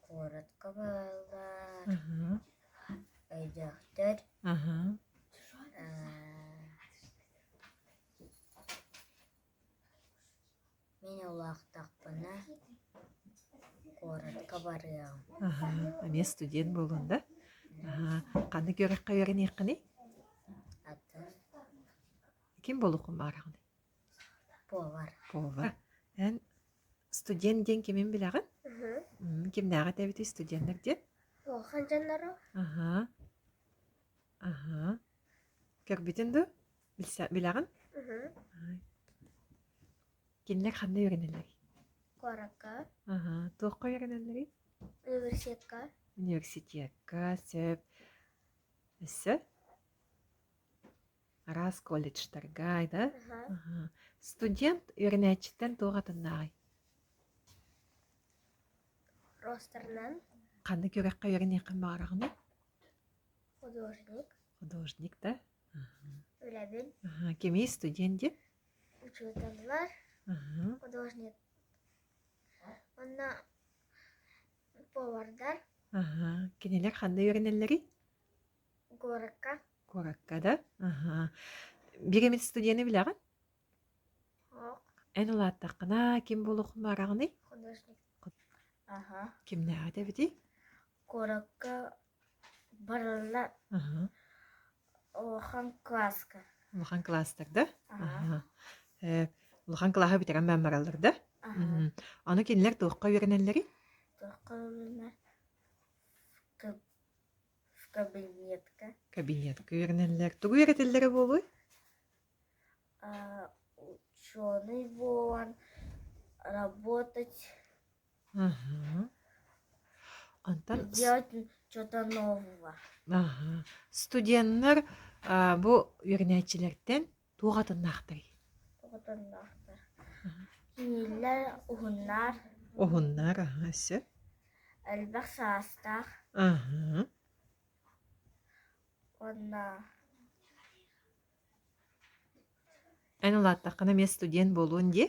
Куоратка бааллар, өйдөөхтөр, Мин улаахтахпына куоратка барыам. Аһа, эмиэ студент буолуон да? Аһа, ханнык үөрэххэ үөрэниэххиний? Аты ким буолуоххун баараҕын? Повар. Повар. Эн студент диэн кимин билэҕин? Мм, кимнээҕи этэбитий студеннар диэн? Улахан дьоннору. Аһа. Аһа. Көрбүтүн дуу? Билса- билэҕин? Мгм. Ай. Кинилэр ханна үөрэнэллэр? Куоракка, Аһа, туохха үөрэнэллэрий? университетка. Университекка, сөп. Өссө? Араас колледжтарга, да? Аха. Аһа. Студент үөрэнээччиттэн туох атыннааҕый? Ростерынан Ханнык үөрэххэ үөрэниэххин баҕараҕыный? художник. Художник, да? Үлэбин Аха, кимий студент дии? учууталлар, Аха. художник. Уонна повардар Аха. Кинилэр ханна үөрэнэллэрий? куоракка. Куоракка да? Аха. Биримит студены билэҕин? Оһох, Эн улааттаххына ким буолуохун баараҕыный? художник. Аха. Кимнээҕи эбитий? Куоракка барылла Аһа. улахан класска Улахан класстар да? Аха. Аһа. Э, улахан кылааһы бүтэрэн бааммараллар да? аха Мгм. Аны кинилэр туохха үөрэнэллэрий? тоққа үлүнэ кабинетка Кабинетка үөрэнэллэр. Тугу үөрэтэллэрэ буолуой? ученый буолан работать Онтон Сделать что-то нового. аһа. студеннар а, бу үөрэнээччилэртэн туох атыннаахтарый? Тутуннахтар. Киһилэр, уһуннар, Уһуннар, аһа, сөп. элбэх саастаах, Аһа. уонна Эн улааттаххына эмиэ студент буолуон дии?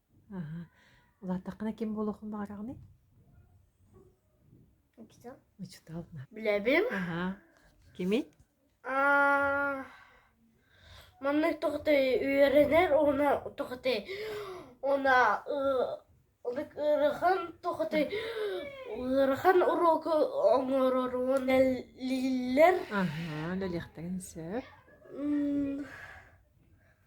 Аһа. Улаатаххына ким буолуохун баҕараҕыный? Учуутал. Учуутал. Билэбин. Аһа. Кимий? Аа, манна тохотой үөрэнэр уна тохотой уна ылык ыарахан тохотой ыарахан уроку оҥорорун лиллер. Аһа. Үлэлиэхтэрин сөп.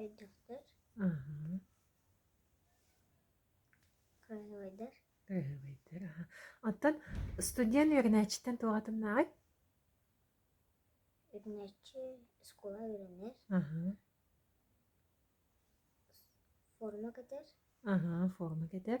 Өйдөхтөр? Кыайыбайдар? Кыайыбайдар, аха. Оттон студент үөрэнээччиттэн туох атыннааҕый? Үөрэнээччи оскуола үөрэнэр. Форма кэтэр. Аха, форма кэтэр.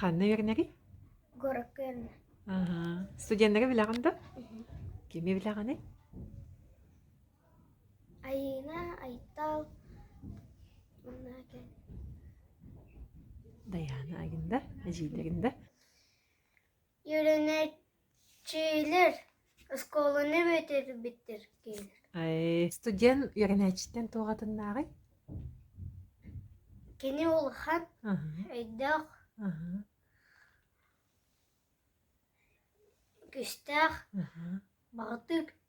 Ханна үөрэнэрий? Город Кёльна. Аһа. Студеннары билэҕин да? Кими билэҕиний? Айыына, Айтал, манна кэл. Дайаана Агинда, эдьиийдэрин да. Юринэт Дьиэлэр, оскуоланы бүтэрбиттэр киһи Студент үөрэнээччитин туох атыннааҕый? Кини улахан, өйдөөх, күүстээх, баҕатык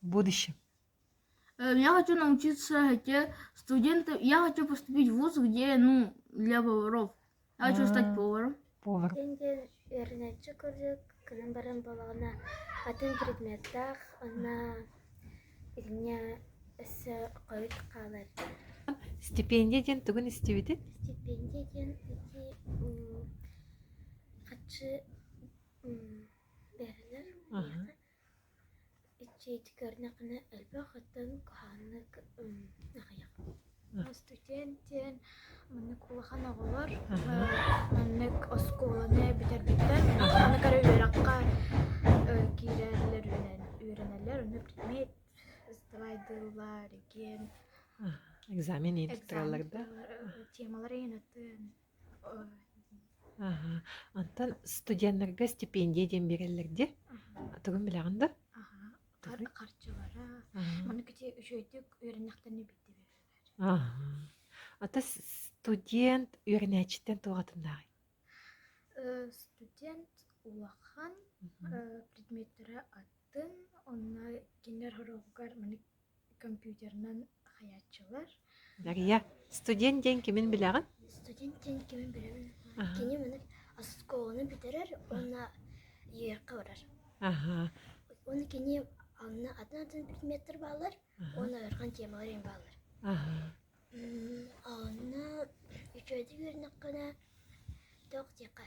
будущем я хочу научиться хотя студент я хочу поступить в вуз где ну для поваров я хочу стать поваром повар деньги вернәтче курдук кырын барын балаҕана атын предметтаах онно итиннэ өссө хойут хаалар стипендия диэн тугун истибитин стипендия диэн ити хаччы берилэр Иччиити көрдөххүнэ элбэх оттон куһаҕаннык аҕыйах. Студент диэн маннык улахан оҕолор маннык оскуоланы бүтэрбиттэр маннык эрэ үөрэххэ киирэллэр үөрэнэллэр онно предмет сдавайдылар диэн экзамен иититтэрэллэр да темалар иһин атын Аһа. Онтон студеннарга стипендия диэн биэрэллэр дии. Тугун билэҕин да? Аһа. Хар Тоҕуй. харчылара Аһа. маныкити үчүгэйдик үөрэнэхтэринэ биирдэ биэрэллэр. Аһа. Ата с студент үөрэнээччиттэн туох атыннааҕый? Э, студент улахан Мгм. э, предметтэрэ атын. Онно кинилэр хоруопугар маннык компьютерынан хайаччылар. Дария, студент диэн кимин билэҕин? Студент диэн кимин билэбин. Кини маны оскуоланы бүтэрэр уонна Нью-Йоркка барар. Аха. Уонна кини анна атын атын предметтэр бааллар уонна ыарахан темалар эм бааллар. Аха. Онно үчүгэйдик үөрэнэххинэ тоқ диэххэ